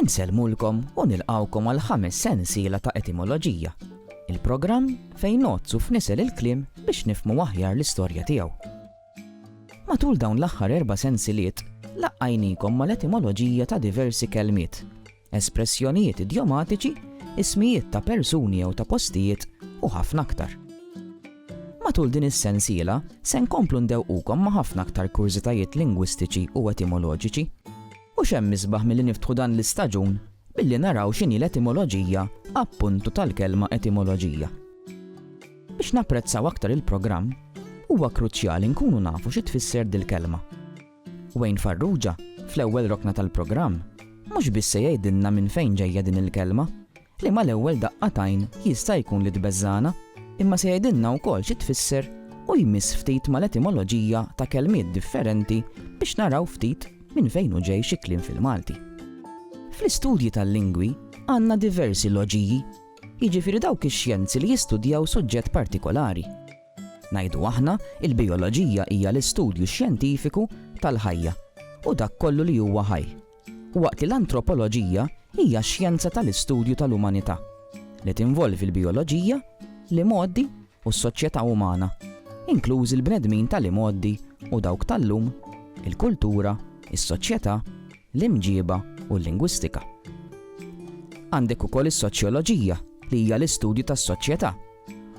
Insellmulkom u nilqgħukom għal ħames sensiela ta' Etimoloġija, il-programm fejn ngħoddsu f'nisel il-kliem biex nifhmu aħjar l-istorja tiegħu. Matul dawn l-aħħar erba' sensiliet laqqajniekom mal-etimoloġija ta' diversi kelmiet, espressjonijiet idjomatiċi, ismijiet ta' persuni jew ta' postijiet u ħafna aktar. Matul din is-sensiela se nkomplu ndewwqukom ma' ħafna aktar kurżitajiet lingwistiċi u etimoloġiċi. U x'hemm isbaħ milli niftħu dan l-istaġun billi naraw x'inhi l-etimoloġija, appuntu, tal-kelma etimoloġija. Biex napprezzaw aktar il-programm, huwa kruċjali nkunu nafu xi tfisser dil-kelma. Wayne Farrugia, fl-ewwel rokna tal-programm, mhux biss se jgħidilna minn fejn ġejja din il-kelma, li mal-ewwel daqqa t'għajn jista' jkun li tbeżżagħna, imma se jgħidilna wkoll xi tfisser u jmiss ftit mal-etimoloġija ta' kelmiet differenti biex naraw ftit minn fejn hu ġej xi kliem fil-Malti. Fl-istudji tal-lingwi għandna diversi loġiji, jiġifieri dawk ix-xjenzi li jistudjaw suġġett partikolari. Ngħidu aħna, il-bijoloġija hija l-istudju xjentifiku tal-ħajja u dak kollu li huwa ħaj, Waqt li l-antropoloġija hija x-xjenza tal-istudju tal-umanità, li tinvolvi l-bijoloġija, l-imgħoddi u s-soċjetà umana, inklużi l-bnedmin tal-imgħoddi u dawk tal-lum, il-kultura, is-soċjetà, l-imġiba u l-lingwistika. Għandek ukoll is-soċjoloġija li hija l-istudju tas-soċjetà,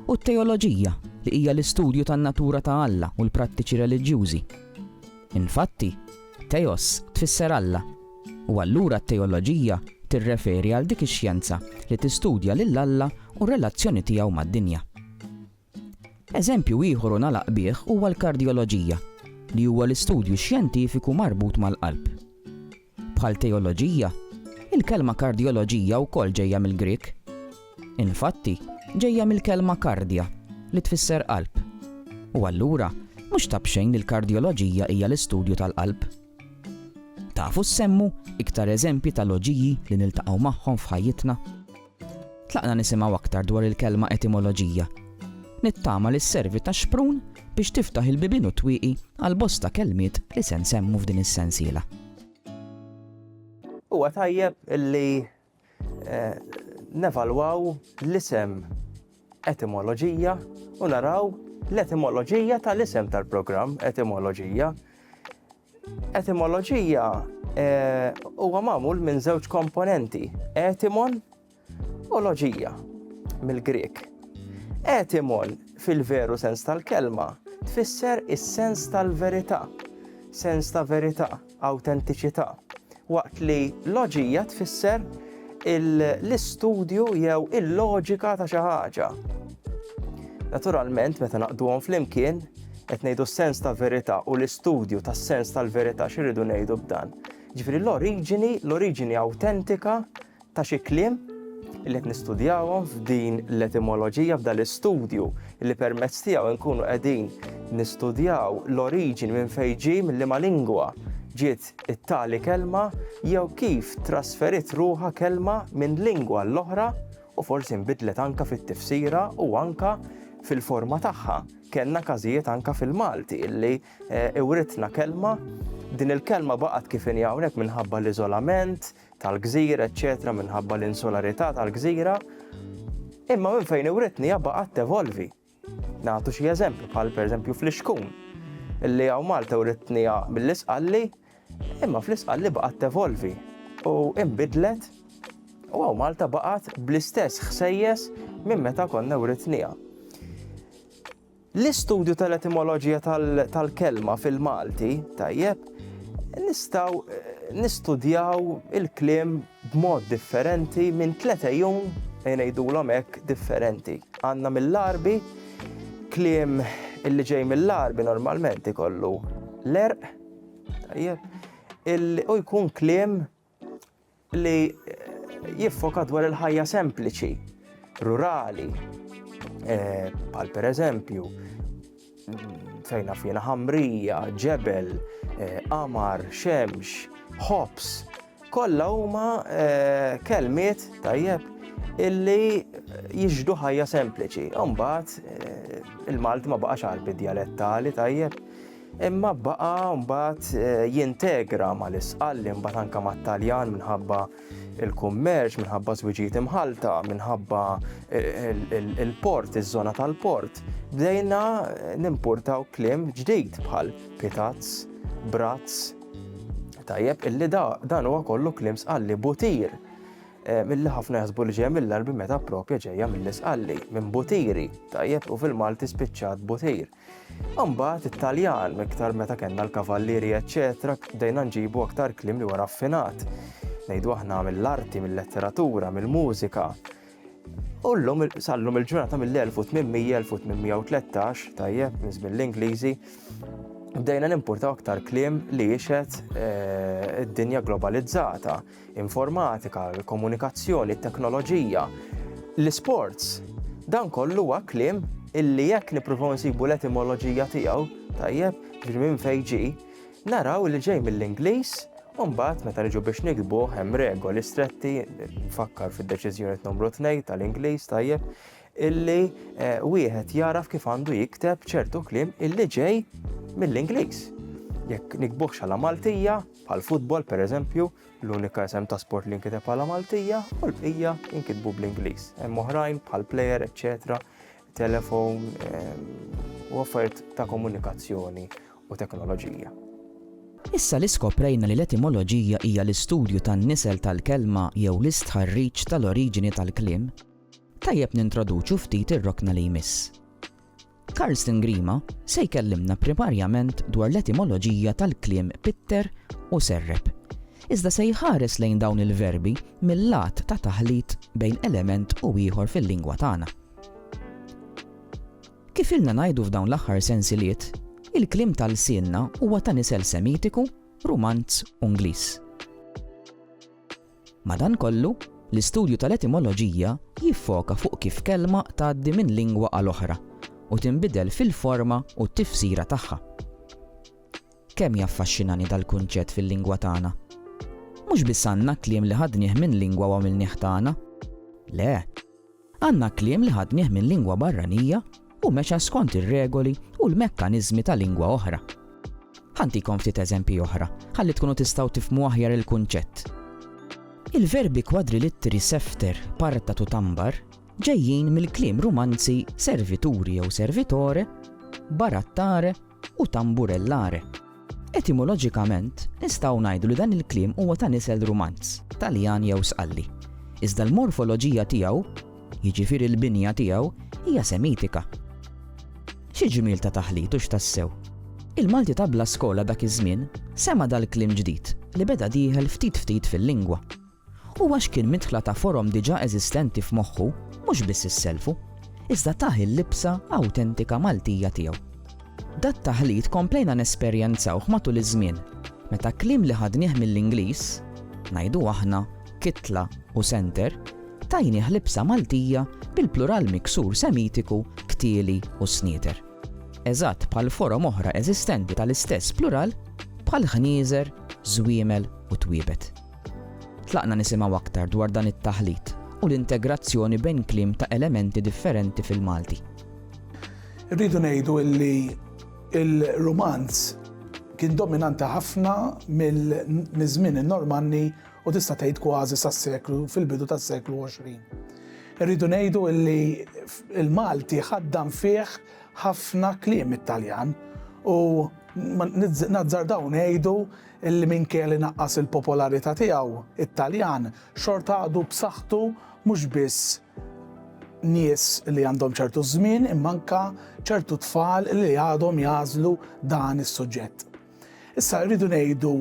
u t-teoloġija li hija l-istudju tan-natura ta' Alla u l-prattiċi reliġjużi. Infatti, Theos tfisser Alla, u allura t-teoloġija tirreferi għal dik ix-xjenza li tistudja lil Alla u r-relazzjoni tiegħu mad-dinja. Eżempju ieħor u nagħlaq bih huwa l-kardjoloġija, li huwa l-istudju xjentifiku marbut mal-qalb. Bħal teoloġija, il-kelma kardjoloġija wkoll ġejja mill-Grieg. Infatti, ġejja mill-kelma kardja, li tfisser qalb. U allura, mhux ta' b'xejn li l-kardjoloġija hija l-istudju tal-qalb. Tafu ssemmu iktar eżempji ta' loġiji li niltaqgħu magħhom f'ħajjitna? Tlaqna nisimgħu aktar dwar il-kelma etimoloġija. Nittama li sservi ta' xprun biex tiftaħ il-bibien u t-twieqi għal bosta kelmiet li se nsemmu f'din is-sensiela. Huwa tajjeb li Nevalwaw l-isem etimoloġija u naraw l-etimoloġija tal-isem tal-programm etimoloġija. Etimoloġija eh, huwa magħmul minn żewġ komponenti, etimon u loġija mill-Grek. Etimon fil-veru sens tal-kelma tfisser is-sens tal-verità, sens ta' verità. awtentiċità, waqt li loġija tfisser l-istudju jew il-loġika ta' xi ħaġa. Naturalment, meta naqduhom flimkien, qed ngħidu s-sens ta' verità u l-istudju tas-sens tal-verità x'irridu ngħidu b'dan. Ġifieri l-oriġini, l-oriġini awtentika ta' xi kliem li qed nistudjawhom f'din l-etimoloġija f'dan l-istudju li permezz tiegħu nkunu qegħdin nistudjaw l-oriġini minn fejn ġie minn liema lingwa ġiet it-tali kelma jew kif trasferiet ruħha kelma minn lingwa għall-oħra u forsi nbidlet anke fit-tifsira u anke fil-forma tagħha. Kellna każijiet anke fil-Malti illi eh, iwritna kelma din il-kelma baqgħet kif inhi hawnhekk minħabba l-iżolament, tal-gżir, eċċetera minħabba l-insularità tal-gżira, imma minn fejn iwritni hija baqgħet tevolvi. Nagħtu xi eżempju bħal pereżempju fl-ixkun, illi hawn Malta writni mill-isqalli, imma fl-isqalli baqgħet tevolvi u imbidlet u għaw Malta baqat bl-istess ħsejjes minn meta konna writnija. L-istudju tal-etimoloġija tal-kelma fil-Malti, tajjeb, nistgħu nistudjaw il-kliem b'mod differenti minn tliet għejun, ngħidulhom hekk, differenti. Għandna mill-Għarbi, kliem illi ġej mill-Għarbi normalment ikollu l-għerq, tajjeb, u jkun kliem li jiffoka dwar il-ħajja sempliċi, rurali, bħal eh, pereżempju fejn naf jiena ħamrija, ġebel, eh, qamar, xemx, ħobs, kollha huma eh, kelmiet tajjeb illi jiġdu ħajja sempliċi. Umbagħad il-Malti ma baqax għalbi djalettali tajjeb imma baqa' mbagħad jintegra mal-Isqalli mbagħad anke mat-Taljan minħabba il-kummerċ, minħabba żwiġijiet imħalta, minħabba il-port, iż-żona tal-port. Bdejna nimpurtaw klim ġdid bħal pitazz, brazz, tajjeb illi da dan huwa kollu klim sqalli butir. Eh, Milli ħafna jasbu li ġeja mill-arbi meta propja ġeja mill-isqalli, minn butiri, tajjeb u fil-Malti spiċċat butir. Imbagħad it-Taljan, iktar meta kellna l-kavallieri eċċetera, bdejna nġibu aktar kliem li huwa raffinat. Ngħidu aħna mill-arti, mill-letteratura, mill-mużika. U llum sallum il-ġurnata mill-1800-1813, tajjeb, minn żmien l-Ingliżi, bdejna nimportaw aktar kliem li jixed eh, id-dinja globalizzata. informatika, il-komunikazzjoni, it-teknoloġija, l-isports. Dan kollu huwa kliem illi jekk nippruvaw nsibu l-etimoloġija tiegħu, tajjeb, ġri minn fejn ġi, naraw li ġej mill-Ingliż u mbagħad meta niġu biex nikbu hemm regoli stretti, nfakkar fid-deċiżjoni numru 2 tal-Ingliż, tajjeb, illi eh, wieħed jaraf kif għandu jikteb ċertu kliem illi ġej mill-Ingliż. Jekk nikbuħx għala Maltija, Bħall-futbol, pereżempju, l-unika isem ta' sport li nkiteb bħala Maltija u l-bqija jinkitbu bl-Ingliż. Hemm oħrajn bħal player, eċċetera, telefon ehm, u affarijiet ta' komunikazzjoni u teknoloġija. Issa li skoprejna li l-etimoloġija hija l-istudju tan-nisel tal-kelma jew l-istħarriġ tal-oriġini tal-kliem, tajjeb nintroduċu ftit ir-rokna li jmiss, Karsten Grima se jkellimna primarjament dwar l-etimoloġija tal-kliem pitter u serrep. Iżda se jħares lejn dawn il-verbi mill-lat ta' taħlit bejn element u ieħor fil-lingwa tagħna. Kif ilna ngħidu f'dawn l-aħħar sensiliet, il-kliem tal-sienna huwa ta' nisel Semitiku, Rumanz u Ingliż. Madankollu, l-istudju tal-etimoloġija jiffoka fuq kif kelma tgħaddi minn lingwa għal oħra u tinbidel fil-forma u t-tifsira tagħha. Kemm jaffaxxinani dal-kunċett fil-lingwa tagħna! Mhux biss għandna kliem li ħadnieh minn lingwa u għamilnieh tagħna. Le! Għandna kliem li ħadnieh minn lingwa barranija u mexa skont ir-regoli u l-mekkaniżmi ta' lingwa oħra. Ħa ntikom ftit eżempji oħra ħalli tkunu tistgħu tifhmu aħjar il-kunċett. Il-verbi kwadrilittri sefter, partat u tambar ġejjin mill-kliem Rumanzi servituri jew servitore, barattare, u tamburellare. Etimoloġikament, nistgħu ngħidu li dan il-kliem huwa ta' nisel Rumanz, Taljan jew Sqalli, iżda l-morfoloġija tiegħu, jiġifieri l-binja tiegħu, hija Semitika. Xi ġmiel ta' taħlit hux tassew! Il-Malti ta' bla skola dak iż-żmien sema' dal-kliem ġdid li beda dieħel ftit ftit fil-lingwa. u għax kien midħla ta' forom diġà eżistenti f'moħħu mhux biss isselfu, iżda tah il-libsa awtentika Maltija tiegħu. Dat-taħlit komplejna nesperjenzawh matul iż-żmien, meta kliem li ħadnieh mill-Ingliż, ngħidu aħna kitla u senter, tajnieh libsa Maltija bil-plural miksur semitiku ktieli u snieter. Eżatt bħal forom oħra eżistenti tal-istess plural bħal ħnieżer, żwiemel u twiebet. Tlaqna nisimgħu aktar dwar dan it-taħlit u l-integrazzjoni bejn kliem ta' elementi differenti fil-Malti. Irridu ngħidu li l-Rumanz kien dominanti ħafna miż-żmien in-Normanni u tista' tgħid kważi sas-seklu fil-bidu tas-seklu 20. Irridu ngħidu li l-Malti ħaddan fih ħafna kliem it-Taljan u nazzardaw ngħidu illi minkejja li naqqas il-popolarità tiegħu, it-Taljan xorta għadu b'saħħtu mhux biss nies li għandhom ċertu żmien imma anke ċertu tfal li għadhom jagħżlu dan is-suġġett. Issa rridu ngħidu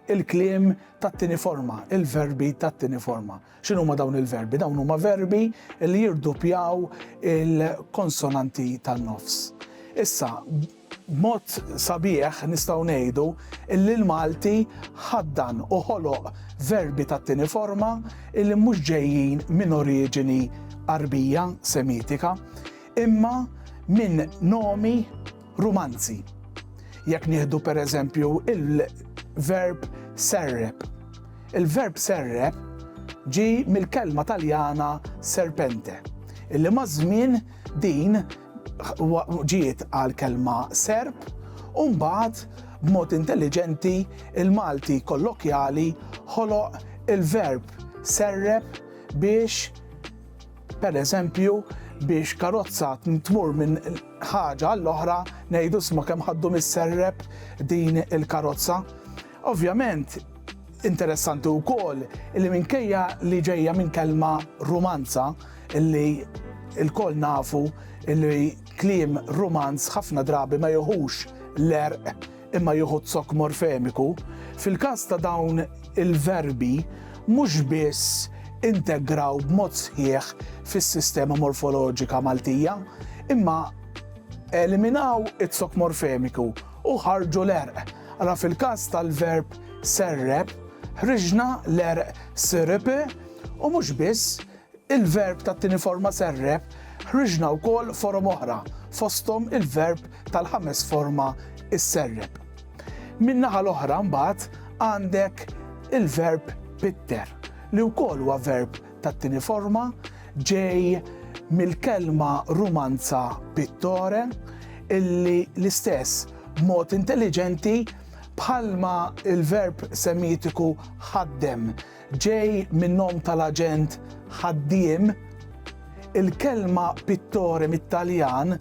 il-kliem tat-tieni forma, il-verbi tat-tieni forma. X'inhuma dawn il-verbi? Dawn huma verbi li jirdupjaw il-konsonanti tan-nofs. Issa, B'mod sabiħ nistgħu ngħidu illi l-Malti ħaddan u ħoloq verbi tat-tieni forma illi mhux ġejjin minn oriġini Għarbija, Semitika, imma minn nomi Rumanzi. Jekk nieħdu per eżempju il-verb serrep. Il-verb serrep ġie mill-kelma Taljana serpente, illi maż-żmien din ġiet għall-kelma Serb u mbagħad b'mod intelliġenti l-Malti kollokjali ħoloq il-verb serreb biex, pereżempju, biex karozza tmur minn ħaġa għall-oħra ngħidu isma' kemm ħaddu mis-serreb din il-karozza. Ovvjament, interessanti wkoll li minkejja li ġejja minn kelma rumanza li lkoll nafu li kliem rumanz ħafna drabi ma jieħux l-għerq imma jieħu z-zokk morfemiku, fil-każ ta' dawn il-verbi mhux biss integraw b'mod sħiħ fis-sistema morfoloġika Maltija imma eliminaw iz-zokk morfemiku u ħarġu l-għerq. Ara fil-każ tal-verb serrep, ħriġna l-għerq sirp u mhux biss, il-verb tat-tieni forma serrep, ħriġna wkoll forom oħra, fosthom il-verb tal-ħames forma isserrep. Min-naħa l-oħra mbagħad għandek il-verb pitter, li wkoll huwa verb tat-tieni forma ġej mill-kelma Rumanza pittore illi l-istess b'mod intelliġenti bħalma l-verb Semitiku ħaddem ġej min-nom tal-aġent ħaddiem, il-kelma pittore mit-Taljan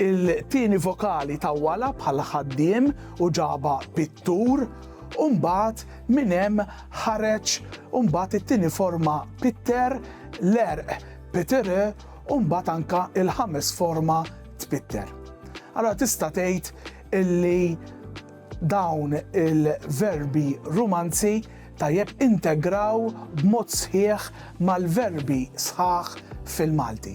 il-tieni vokali tawwalha bħal ħaddiem u ġabha pittur u mbagħad Minn hemm ħareġ mbagħad it-tieni forma pitter, l-għerq pittere u mbagħad anke l-ħames forma tpitter. Allora tista' tgħid illi dawn il-verbi rumanzi tajjeb integraw b'mod sħiħ mal-verbi sħaħ fil-Malti.